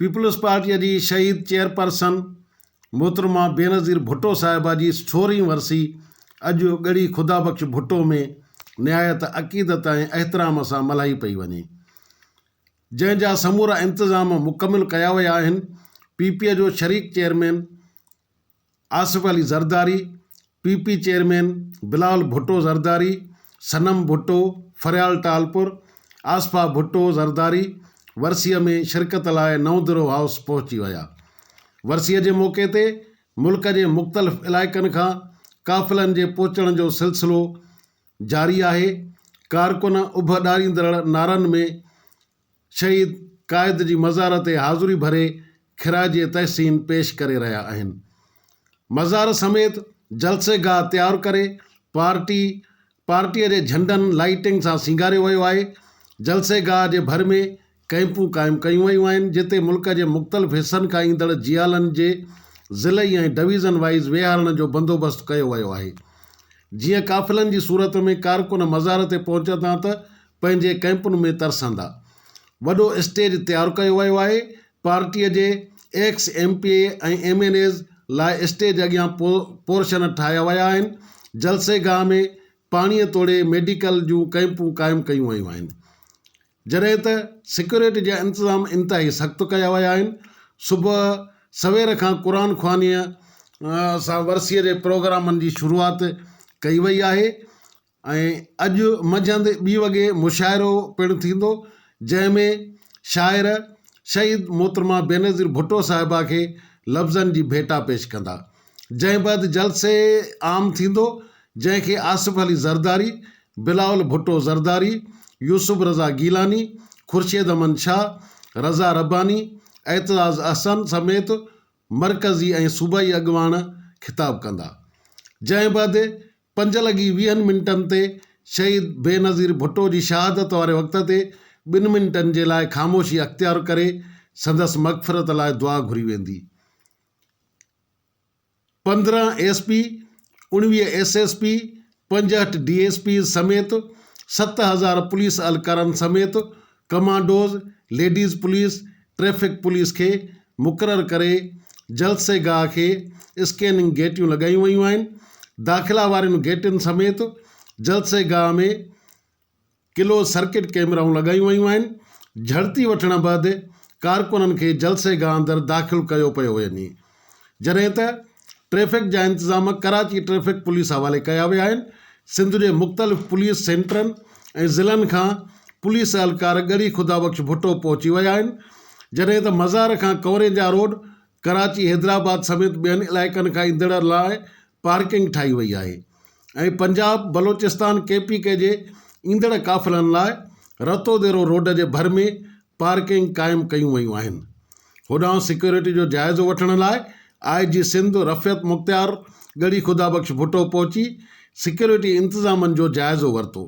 Peoples Party جي شهيد chairperson محترمه بينظير ڀٽو صاحبه جي سورهين ورسي اڄ ڳڙهي خدا بخش ڀٽو ۾ نهايت عقيدت ۽ احترام سان ملهائي پئي وڃي جنهن جا سمورا انتظام مڪمل ڪيا ويا آهن، پي پي جو شريڪ chairman Asif Ali Zardari, P P chairman Bilal Bhutto Zardari, Sanam Bhutto, Faryal Talpur, Asifa Bhutto Zardari ورسيء ۾ شرڪت لاء نئون درو هائوس پهچي ويا. ورسيء جي موقعي تي ملڪ جي مختلف علائقن کان قافلن جي پهچڻ جو سلسلو جاري آهي، ڪارڪن اڀ ڏاريندڙ نعرن ۾ شهيد قائد جي مزار تي حاضري ڀري خراج تحسين پيش ڪري رهيا آهن، مزار سميت جلسي گاهه تيار ڪري پارٽي پارٽي جي جهنڊن لائيٽنگ سان سينگاريو ويو آهي، جلسي گاهه جي ڀر ۾ ڪئمپون قائم ڪيون ويون آهن جتي ملڪ جي مختلف حصن کان ايندڙ جيالن جي ضلعي ۽ ڊويزن وائيز ويهارڻ جو بندوبست ڪيو ويو آهي جيئن قافلن جي صورت ۾ ڪارڪن مزار تي پهچندا ته پنهنجي ڪئمپن ۾ ترسندا وڏو اسٽيج تيار ڪيو ويو آهي پارٽي جي ex M P A ۽ M N As لاء اسٽيج اڳيان پورشن ٺاهيا ويا آهن جلسي گاهه ۾ پاڻي توڙي ميڊيڪل جون ڪئمپون قائم ڪيون ويون آهن جڏهن ته سيڪيورٽي جا انتظام انتهائي سخت ڪيا ويا آهن، صبح سوير کان قرآن خوانيء سان ورسيء جي پروگرامن جي شروعات ڪئي وئي آهي ۽ اڄ منجهند ٻي وڳي مشاعرو پڻ ٿيندو، جنهن ۾ شاعر شهيد محترمه بينظير ڀٽو صاحبه کي لفظن جي ڀيٽا پيش ڪندا، جنهن بعد جلسه عام ٿيندو، جنهن کي آصف علي زرداري بلاول ڀٽو زرداري، يوسف رضا گيلاني، خورشيد امن شاهه، رضا رباني، اعتزاز احسن سميت مرڪزي ۽ صوبائي اڳواڻ خطاب ڪندا. جنهن بعد پنج لڳي ويهن منٽن تي شهيد بينظير ڀٽو جي شهادت واري وقت تي ٻن منٽن جي لاء خاموشي اختيار ڪري سندس مغفرت لاء دعا گهري ويندي. پندرهن ايس پي، اڻويهه ايس ايس پي، پنجهٺ ڊي ايس پيز سميت ست هزار پوليس اھلڪارن سميت commandos, ladies police, traffic police کي مقرر ڪري جلسي گاھ کي اسڪيننگ گيٽيون لڳايون ويون آھن، داخلا وارين گيٽن سميت جلسي گاھ ۾. ڪلوز سرڪٽ ڪيمرائون لڳايون ويون آهن، جهڙتي وٺڻ بعد ڪارڪنن کي جلسي گاهه اندر داخل ڪيو پيو وڃي، جڏهن ته ٽريفڪ جا انتظام ڪراچي ٽريفڪ پوليس حوالي ڪيا ويا آهن، سنڌ جي مختلف پوليس سينٽرن ۽ ضلعن کان پوليس اهلڪار ڳڙهي خدابخش ڀٽو پهچي ويا آهن، جڏهن ته مزار کان ڪوريجا روڊ، ڪراچي حيدرآباد سميت ٻين علائقن کان ايندڙن لاء پارڪنگ ٺاهي وئي آهي ۽ Punjab Balochistan K P K جي ايندڙ قافلن لاء رتو ديرو روڊ جي ڀر ۾ پارڪنگ قائم ڪيون ويون آهن هوڏانهن سيڪيورٽي جو جائزو وٺڻ لاء آء جي سنڌ رفعت مختيار ڳڙهي خدا بخش ڀٽو پهچي سيڪيورٽي انتظامن جو جائزو ورتو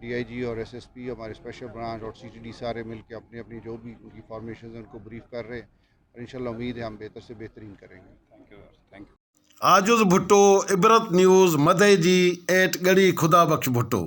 ڊي آء جي اور ايس ايس پي ھماري اسپيشل برانچ اور سي ٽي ڈي ساري مل ڪي اپني اپني جو بي ان ڪي فارميشن ھين ان ڪو بريف ڪر رھي ھين اور انشاء الله اميد ھي ھم بھتر سي بھترين ڪرين گي thank you sir thank you. Ajiz Bhutto Ibrat news مدئي جي ايٽ ڳڙھي خدا بخش ڀٽو.